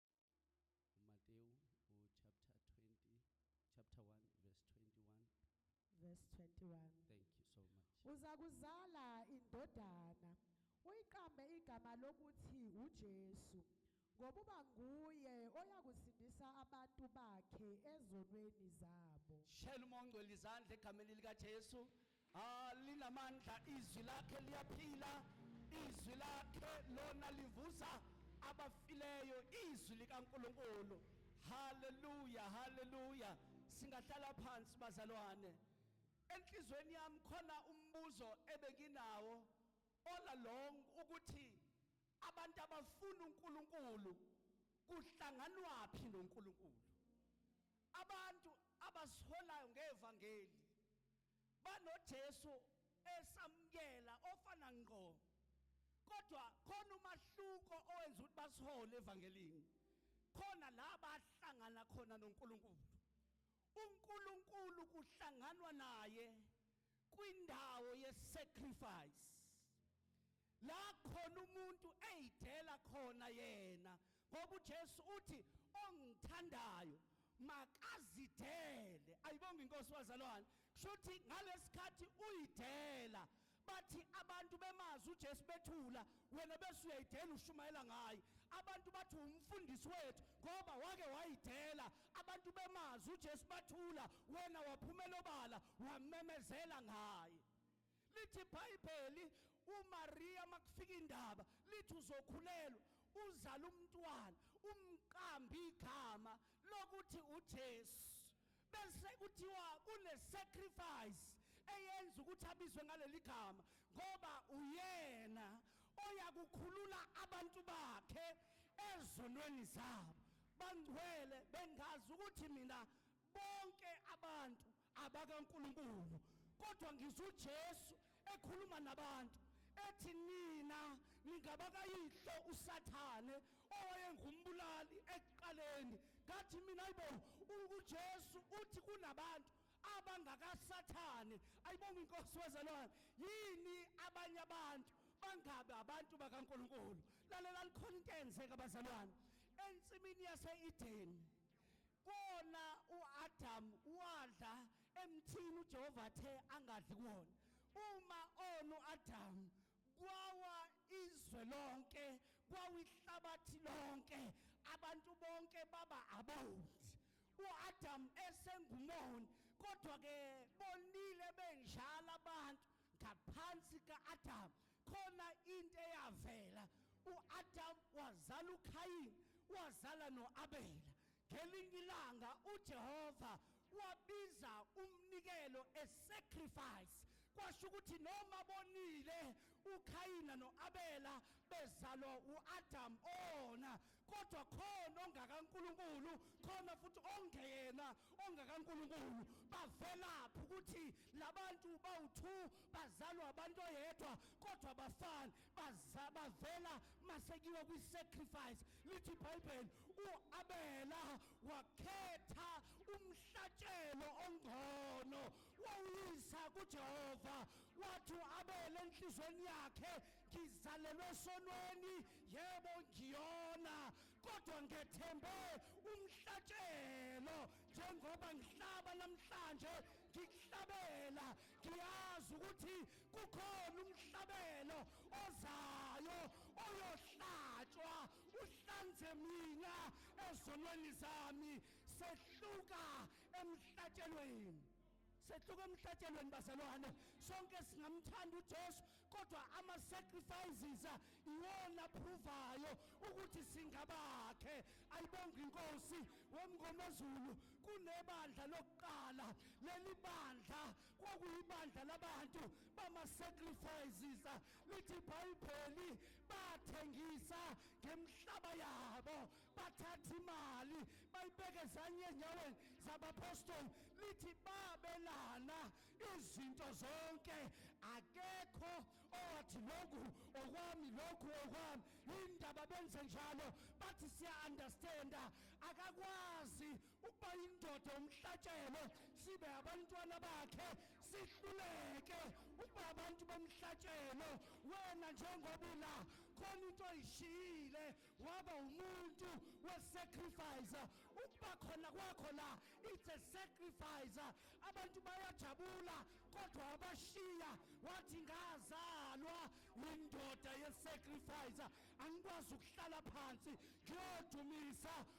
uMatewu uchapter 20 chapter 1 verse 21. Verse 21. Thank you so much. Uza kuzala indodana uyiqambe igama lokuthi uJesu ngokuba nguye oyakusindisa abantu bakhe ezonweni zabo. Shela uma ongcwele izandla egameni likaJesu. Ah, linamandla izwi lakhe liyaphila, izwi lakhe lona livusa abafileyo, izwi likaNkulunkulu. Haleluya, haleluya. Singahlala phansi bazalwane. Enhlizweni yami khona umbuzo ebenginawo all along ukuthi abantu abafuna uNkulunkulu kuhlanganwaphi noNkulunkulu? Abantu abasiholayo ngevangeli BanoJesu esamukela ofana ngqo. Kodwa khona umahluko owenza ukuthi basihole evangelini. Khona la bahlangana khona noNkulunkulu. uNkulunkulu kuhlanganwa naye kwindawo yesacrifice la khona umuntu eyidela khona yena ngoba uJesu uthi ongithandayo makazidele ayibonga inkosi wazalwane kusho ukuthi ngalesikhathi uyidela bathi abantu bemazi uJesu bethula wena bese uyayidela ushumayela ngaye abantu bathi umfundisi wethu ngoba wake wayidela abantu bemazi uJesu bathula wena waphumela obala wamemezela ngaye Lithi iBhayibheli uMaria makufika indaba lithi uzokhulelwa uzala umntwana umqamba igama lokuthi uJesu bese kuthiwa kune sacrifice eyenza ukuthi abizwe ngaleli gama ngoba uyena oyakukhulula abantu bakhe ezonweni zabo bangcwele bengazi ukuthi mina bonke abantu abakaNkulunkulu kodwa ngizwa uJesu ekhuluma nabantu ethi nina ningabakayihlo usathane owayengumbulali ekuqaleni ngathi mina ayibo uJesu uthi kunabantu abangakasathane ayibonga inkosi wezalwane yini abanye abantu bangabe abantu bakaNkuluNkulu lalela likhona into eyenzeka bazalwane ensimini yaseEden Kona uAdam wadla emthini uJehova athe angadli kuwona. Uma ona uAdam kwawa izwe lonke, kwawihlabathi lonke, abantu bonke baba abondi. UAdam esengumoni, kodwa ke bonile benjalo abantu ngaphansi kaAdam. Khona into eyavela. UAdam wazala uKhayini, wazala noAbela. Ngelinye ilanga uJehova wabiza umnikelo a sacrifice kwasho ukuthi noma bonile uKhayina noAbela bezalwa uAdam ona kodwa khona ongakaNkuluNkulu khona futhi ongeyena ongakaNkuluNkulu bavelaphi ukuthi labantu bawu2 bazalwa abantu oyedwa kodwa bafana baza bavela masekiwa kwi-sacrifice lithi ibhayibheli u-abela wakhetha umhlatshelo ongcono wawuyisa kujehova wathi u-abela enhlizweni yakhe ngizalelwe esonweni yebo ngiyona kodwa ngethembe umhlatshelo njengoba ngihlaba namhlanje ngikuhlabela ngiyazi ukuthi kukhona umhlabelo ozayo oyohlatshwa uhlanze mina ezonweni zami sehluka emhlatshelweni sehluka emhlatshelweni bazalwane sonke singamthanda uJesu kodwa ama sacrifices iwona aphuvayo ukuthi singabakhe ayibonga inkosi womngomezulu kunebandla lokuqala leli bandla kwakuyibandla labantu bama-sacrifices lithi ibhayibheli bathengisa ngemhlaba yabo bathatha imali bayibeke zanye enyaweni zabapostoli lithi babelana izinto zonke akekho owathi lokhu okwami lokhu okwami yindaba benze njalo bathi siya-understanda akakwazi ukuba indoda umhlatshelo sibe abantwana bakhe sihluleke ukuba abantu bomhlatshelo wena njengoba ula khona into oyishiyile waba umuntu wesacrifice ukuba khona kwakho la it's a sacrifice abantu bayajabula kodwa wabashiya wathi ngazalwa yindoda yesacrifice angikwazi ukuhlala phansi ngiyodumisa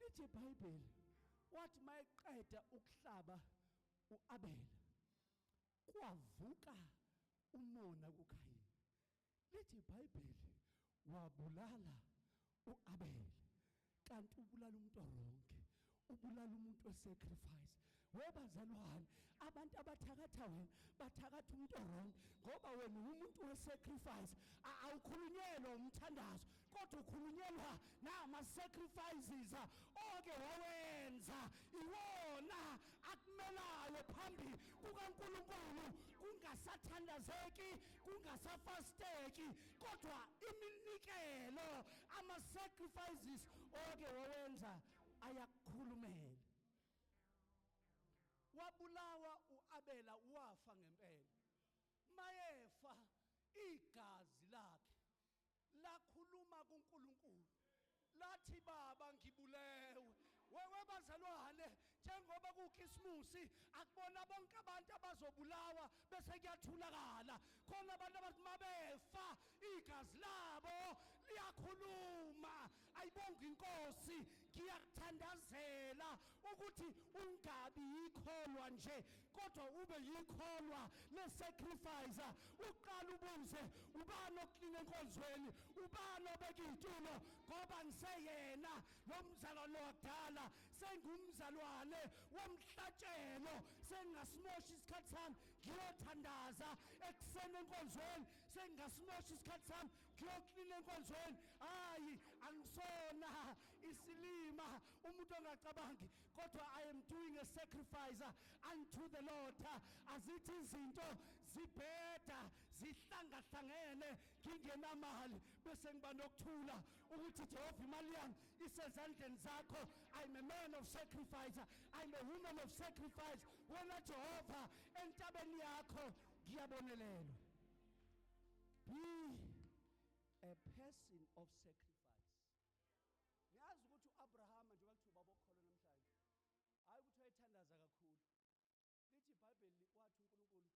lithi iBhayibheli wathi mayeqeda ukuhlaba uAbela kwavuka umona kuKhayini lithi iBhayibheli wabulala uAbela kanti ubulala umuntu oronke ubulala umuntu wesacrifice we bazalwane abantu abathakatha wena bathakatha umuntu orong ngoba wena umuntu we-sacrifice awukhulunyelwa umthandazo kodwa ukhulunyelwa nama-sacrifices oke wawenza iwona akumelayo phambi kukankulunkulu kungasathandazeki kungasafasteki kodwa iminikelo ama-sacrifices oke wawenza ayakukhulumela wabulawa uAbela wafa ngempela mayefa igazi lakhe lakhuluma kuNkulunkulu lathi baba ngibulewe wewe bazalwane njengoba kukhisimusi akubona bonke abantu abazobulawa bese kuyathulakala khona abantu abathi mabefa igazi labo liyakhuluma ayibonga inkosi ngiyakuthandazela ukuthi ungabi yikholwa nje kodwa ube yikholwa lesacrifice uqala ubuze ubani oklina enkonzweni ubani obeka iy'tulo ngoba ngiseyena lo mzalwane wakudala sengumzalwane womhlatshelo sengingasimoshi isikhathi sami ngiyothandaza ekuseni enkonzweni sengingasimoshi isikhathi sami ngiyoklina enkonzweni hayi angisona isilima umuntu ongacabangi kodwa i am doing a sacrifice unto the lord azithi izinto zibheda zihlangahlangene ngingenamali bese ngiba nokuthula ukuthi Jehova imali yami isezandleni zakho I'm a man of sacrifice I'm a woman of sacrifice wena Jehova entabeni yakho ngiyabonelelwa be a person of sacrifice ngiyazi ukuthi uAbrahama njengoba kuthiwa baba okholo namhlanje hayi ukuthi wayethandaza kakhulu lithi ibhayibheli wathi uNkulunkulu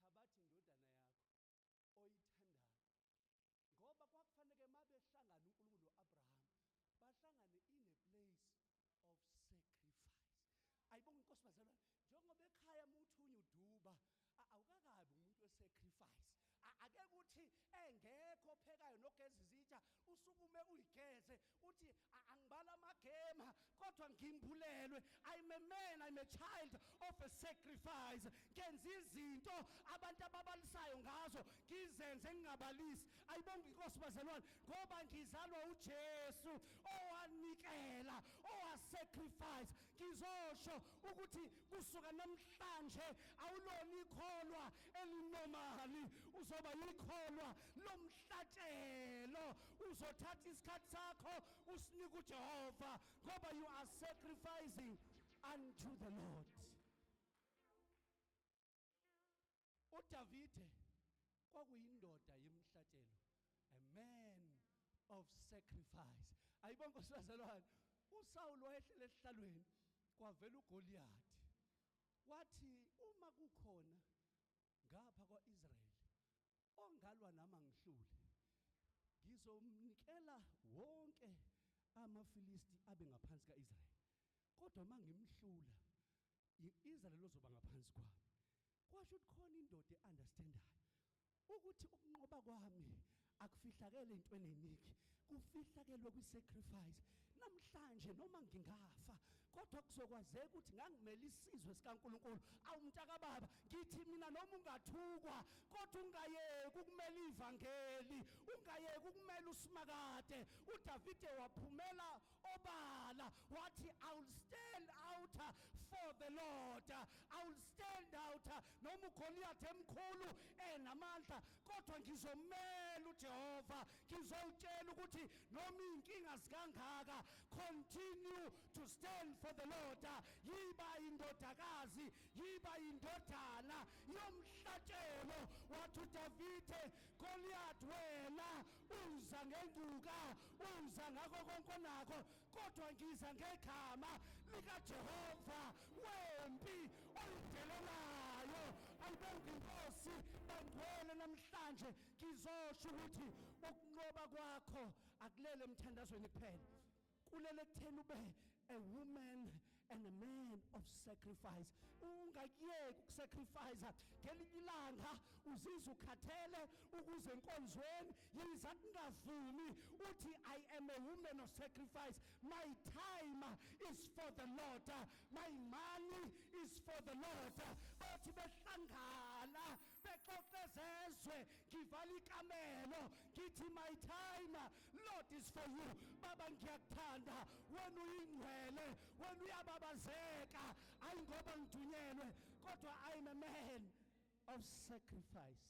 thabathi indodana yakho oyithandayo ngoba kwakufaneke mabehlangana uNkulunkulu noAbraham bahlangane in a place of sacrifice ayibonga inkosi bazalwane njengoba ekhaya muthunya uduba awukakabi umuntu wesacrifice ake kuthi engekho ophekayo nogeza izitsha usukume uyigeze uthi angibali amagema kodwa ngimbulelwe i'm a man i'm a child of a sacrifice ngenza izinto abantu ababalisayo ngazo ngizenze ngingabalisi ayibonga inkosi bazalwane ngoba ngizalwa ujesu owanikela owasacrifice ngizosho ukuthi kusuka namhlanje awulona ikholwa elinomali uzoba yikholwa lomhlatshelo uzothatha isikhathi sakho usinike uJehova ngoba you are sacrificing unto the Lord uDavide kwakuyindoda yemhlatshelo a man of sacrifice ayibonke osazalwane uSawulu wayehlele esihlalweni kwavela uGoliath wathi uma kukhona ngapha kwaIsrael ongalwa nami angihlule ngizomnikela wonke amaFilisti abe ngaphansi kaIsrael kodwa mangimhlula iIsrael lozoba ngaphansi kwami kwasho ukuthi khona indoda eunderstandayo ukuthi ukunqoba kwami akufihlakele intweni eningi kufihlakelwe kwi-sacrifice namhlanje noma ngingafa kodwa kuzokwazeka ukuthi ngangimele isizwe sikaNkuluNkulu awumntakababa ngithi mina noma ungathukwa kodwa ungayeki ukumela ivangeli ungayeki ukumela usimakade uDavide waphumela obala wathi i will stand out for the lord i will stand out noma ugoliyathi emkhulu enamandla kodwa ngizomela ujehova ngizowutshela ukuthi noma iy'nkinga zikangaka continue to stand for the lord yiba indodakazi yiba indodana yomhlatshelo wathi udavide goliyathi wena uza ngenguka uza ngako konke onakho kodwa ngiza ngegama likaJehova wempi oyidelelayo ayibonge inkosi bangcwele namhlanje ngizosho ukuthi ukunqoba kwakho akulele emthandazweni kuphela kulele ekutheni ube a woman and a man of sacrifice ungakuyeki ukusacrifice ngelinye ilanga uzizwa ukhathele ukuze enkonzweni yiza kungavumi uthi i am a woman of sacrifice my time is for the lord my money is for the lord bathi behlangana bexoxe zezwe ngivala ikamelo ngithi my time lord is for you baba ngiyakuthanda wena uyingcwele wena uyababazeka ayi ngoba ngidunyelwe kodwa i am a man of sacrifice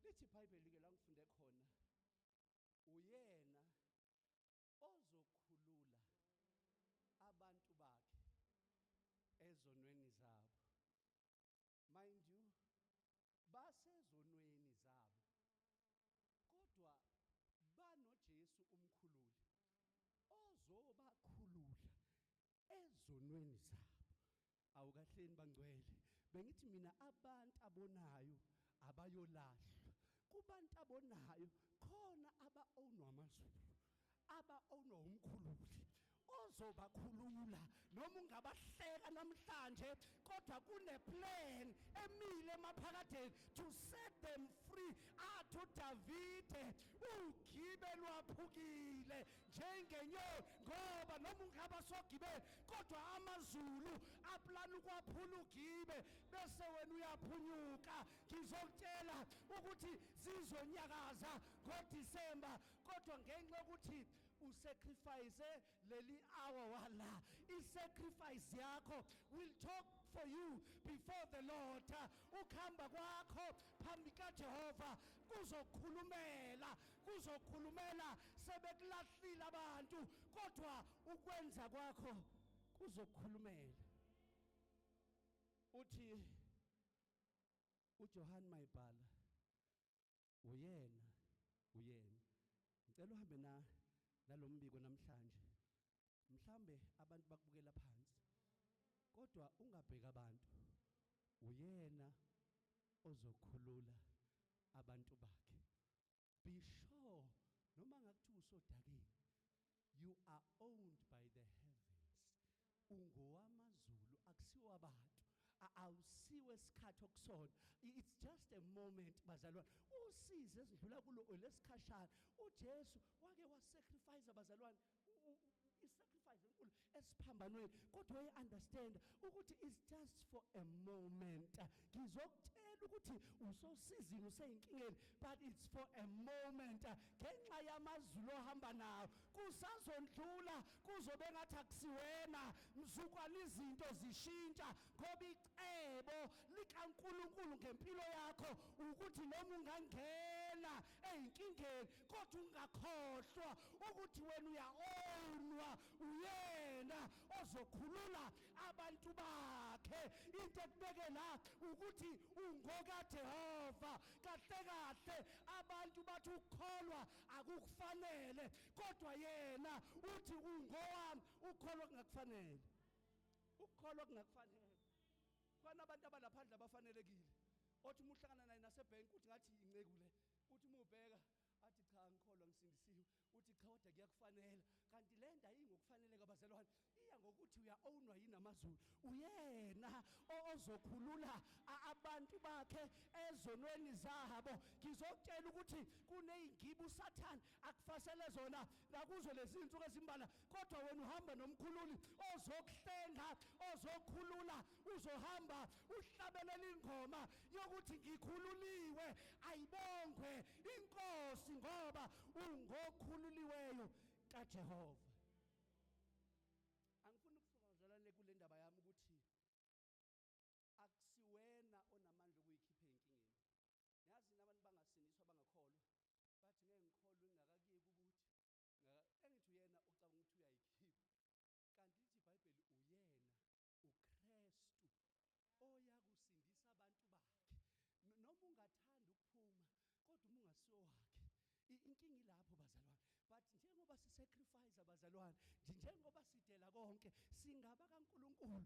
lithi ibhayibheli ke la ngifunde khona uyena ozokhulula abantu bakhe ezonweni zabo mind you basezonweni zabo kodwa banoJesu umkhululi ozobakhulula ezonweni zabo awukahleni bangcwele bengithi mina abantu abonayo abayolahlwa kubantu abonayo khona aba-ownwa amazulu aba-ownwa wumkhululi ozobakhulula noma ungabahleka namhlanje kodwa kuneplan emile emaphakadeni to set them free athi udavide ugibe lwaphukile njengenyoni ngoba noma ungaba sogibeni kodwa amazulu aplana ukwaphula ugibe bese wena uyaphunyuka ngizokutshela ukuthi zizonyakaza ngodisemba kodwa ngenxa yokuthi usacrifice leli hour wala isacrifice yakho will talk for you before the Lord ukhamba kwakho phambi kaJehova kuzokhulumela kuzokhulumela sebekulahlile abantu kodwa ukwenza kwakho kuzokhulumela uthi uJohn Mayibhala Uyena, uyena. Ngicela uhambe na nalombiko namhlanje. Mhlambe abantu bakubukela phansi. Kodwa ungabheka abantu. Uyena ozokhulula abantu bakhe. Be sure noma ngakuthiwa usodakeni. you are owned by the heavens ungowamazulu akusiwo abantu awusiwe isikhathi okusona it's just a moment bazalwane usize esidlula kulo lesikhashana uJesu wake wasacrifice bazalwane isacrifice enkulu esiphambanweni kodwa uye understand ukuthi is just for a moment ngizokutshela ukuthi usosizini useyinkingeni but it's for a moment ngenxa yamazulu ohamba nawo kusazondlula kuzobe ngathi akusiwena mzukwana izinto zishintsha ngoba icebo likaNkuluNkulu ngempilo yakho ukuthi noma ungangena ezinkingeni kodwa ungakhohlwa ukuthi wena uyaonwa uyena ozokhulula abantu bakhe into ekubeke la ukuthi ungokaJehova kahle kahle abantu bathi ukukholwa akukufanele kodwa yena uthi ungowami ukukholwa kungakufanele ukukholwa kungakufanele khona abantu abalaphandle abafanelekile othi uma uhlangana naye nasebhenki uthi ngathi inceku le uthi uma ubheka athi cha angikholwa ngisindisiwe uthi cha kodwa kuyakufanela kanti le nto ayingokufaneleka bazalwane iya ngokuthi uya-ownwa yini amazulu uyena ozokhulula abantu bakhe ezonweni zabo ngizokutshela ukuthi kuney'ngiba usathane akufasele zona nakuzo lezi zinsuku ezimbala kodwa wena uhamba nomkhululi ozokuhlenga ozokhulula uzohamba uhlabelela ingoma yokuthi ngikhululiwe ayibongwe inkosi ngoba ungokhululiweyo kaJehova angifuni ukusuka ngizalane kule ndaba yami ukuthi akusiwena onamandla okuyikhipha enkingeni yazi nabantu bangasindiswa bangakholwa bathi ngeke ngikholwe ngingakakuyeki ukuthi engithi uyena ucabanga ukuthi uyayikhipha kanti lithi ibhayibheli uyena ukrestu oyakusindisa abantu bakhe noma ungathanda ukuphuma kodwa uma ungasiwo wakhe inkinga ilapho bazalwane but njengoba sisacrifice abazalwane njengoba sidela konke singaba kaNkuluNkulu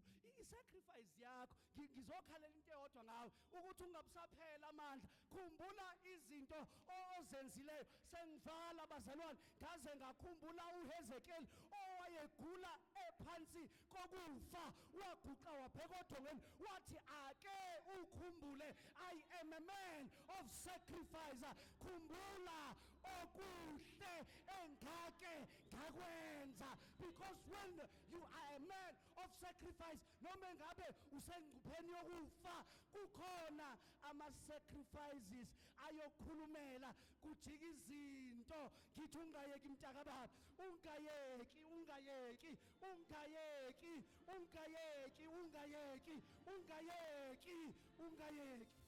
isacrifice yakho ngizokhalela into eyodwa ngawe ukuthi ungabusaphela amandla khumbula izinto ozenzileyo sengivala abazalwane ngaze ngakhumbula uHezekiel owayegula ephansi kokufa waguqa wabheka odongeni wathi ake ukhumbule i am a man of sacrifice khumbula okuhle engake ngakwenza because when you are a man of sacrifice noma engabe usengcupheni yokufa kukhona ama sacrifices ayokhulumela kujika izinto ngithi ungayeki mntakababa ungayeki ungayeki Ungayeki, ungayeki, ungayeki, ungayeki, ungayeki.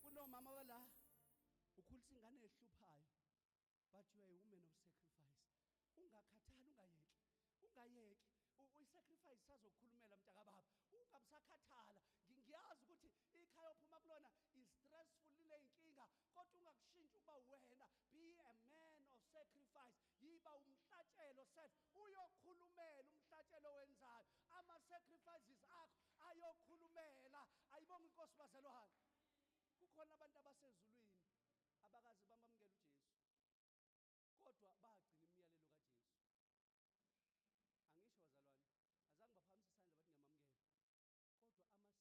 Kunomama wala ukhulisa ingane ehluphayo but you are a woman of sacrifice. Ungakhathali, ungayeki. Ungayeki. uyisacrifice sazokhulumela mntakababa ungabe sakhathala ngiyazi ukuthi ikhaya ophuma kulona is stressful lineyinkinga kodwa ungakushintsha ukuba wena be a man of sacrifice yiba umhlatshelo self uyokhulumela umhlatshelo wenzayo ama sacrifices akho ayokhulumela ayibonga inkosi bazalwane kukhona abantu abasezulwini abakazi bamamukela uJesu kodwa bagcina imiyalelo kaJesu. Angisho bazalwane, azange baphakamisa isandla bathi ngiyamamukela.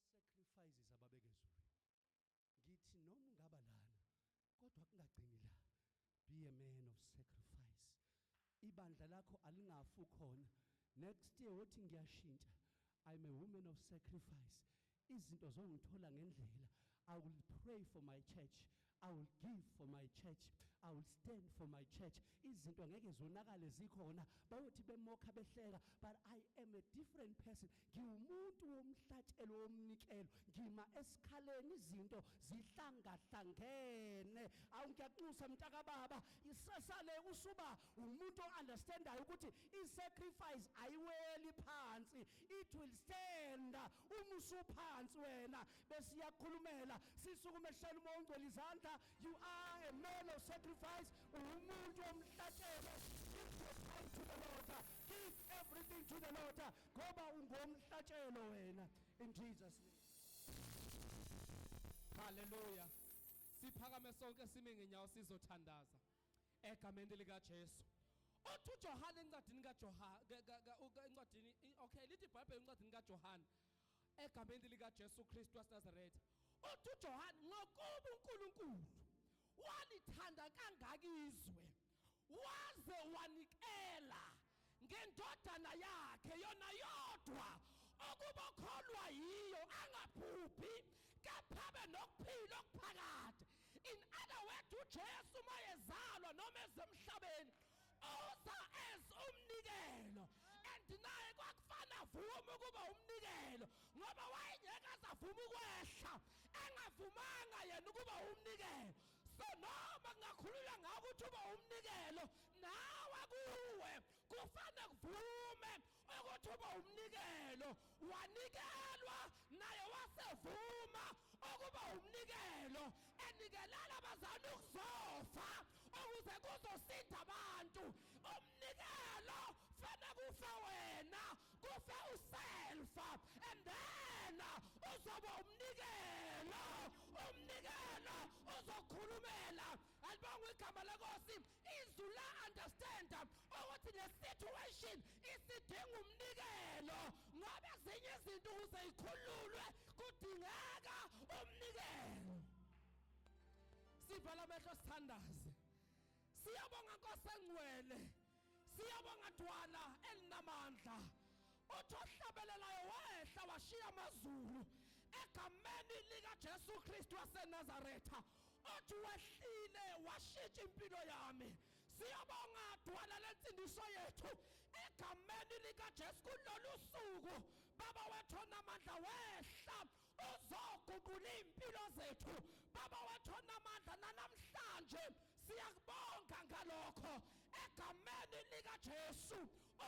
Kodwa ama sacrifices ababeke ezulwini. Ngithi noma ungaba lana kodwa kungagcini la. Be a man of sacrifice. Ibandla lakho alingafu khona. Next year wothi ngiyashintsha. I'm a woman of sacrifice. Izinto zongithola ngendlela. I will pray for my church. I will give for my church. I will stand for my church. Izinto ngeke zonakale zikhona. Bayothi bemokha behleka but I am a different person. Ngiwumuntu womhlatshelo womnikelo. Ngima esikhaleni izinto zihlangahlangene. Awu ngiyakunxusa mntaka baba isesale usuba umuntu ounderstandayo ukuthi i sacrifice ayiweli phansi. It will stand Uma usuphansi wena besiyakhulumela sisukuma ehlala uma ungcwele izandla you are a man of sacrifice uwumuntu omhlatshelo to the Lord give everything to the Lord ngoba ungomhlatshelo wena in Jesus name Hallelujah siphakame sonke sime ngenyawo sizothandaza egameni likaJesu othi uJohane encwadini kaJohane encwadini okay lithi iBhayibheli encwadini kaJohane egameni likaJesu Kristu waseNazaretha othi uJohane ngokuba uNkulunkulu walithanda kangaka izwe waze wanikela ngendodana yakhe yona yodwa ukuba okholwa yiyo angaphuphi kepha abe nokuphila okuphakade in other word ujesu uma ezalwa noma ezemhlabeni uza as umnikelo and naye kwakufana avuma ukuba umnikelo ngoba wayengeke azavuma ukwehla engavumanga yena ukuba umnikelo so noma kungakhulula ngawo ukuthi uba umnikelo nawe kuwe kufane kuvume ukuthi uba umnikelo wanikelwa naye wasevuma ukuba umnikelo enikelela abazana ukuzofa ukuze kuzosinda abantu umnikelo fana kufa wena kufa uselfa and then uzoba umnikelo umnikelo uzokhulumela alibonga igama lenkosi izwi la understand ukuthi le situation isidinga umnikelo ngoba ezinye izinto ukuze ikhululwe kudingeka umnikelo sivala amehlo sithandaze Siyabonga Nkosi engcwele. Siyabonga Dwala elinamandla. Uthi ohlabelelayo wehla washiya amazulu egameni lika Jesu Kristu waseNazaretha. Othi wehlile washintsha impilo yami. Siyabonga Dwala lensindiso yethu egameni lika Jesu kulolu suku. Baba wethu onamandla wehla uzoguqula izimpilo zethu baba wethu onamandla nanamhlanje siyakubonga ngalokho egameni likaJesu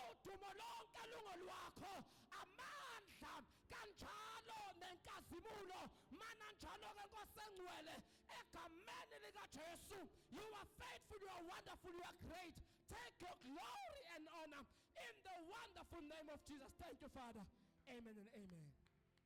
udumo lonke lungolwakho amandla kanjalo nenkazimulo mana njalo ke nkosengcwele egameni likaJesu you are faithful you are wonderful you are great take your glory and honor in the wonderful name of Jesus thank you father amen and amen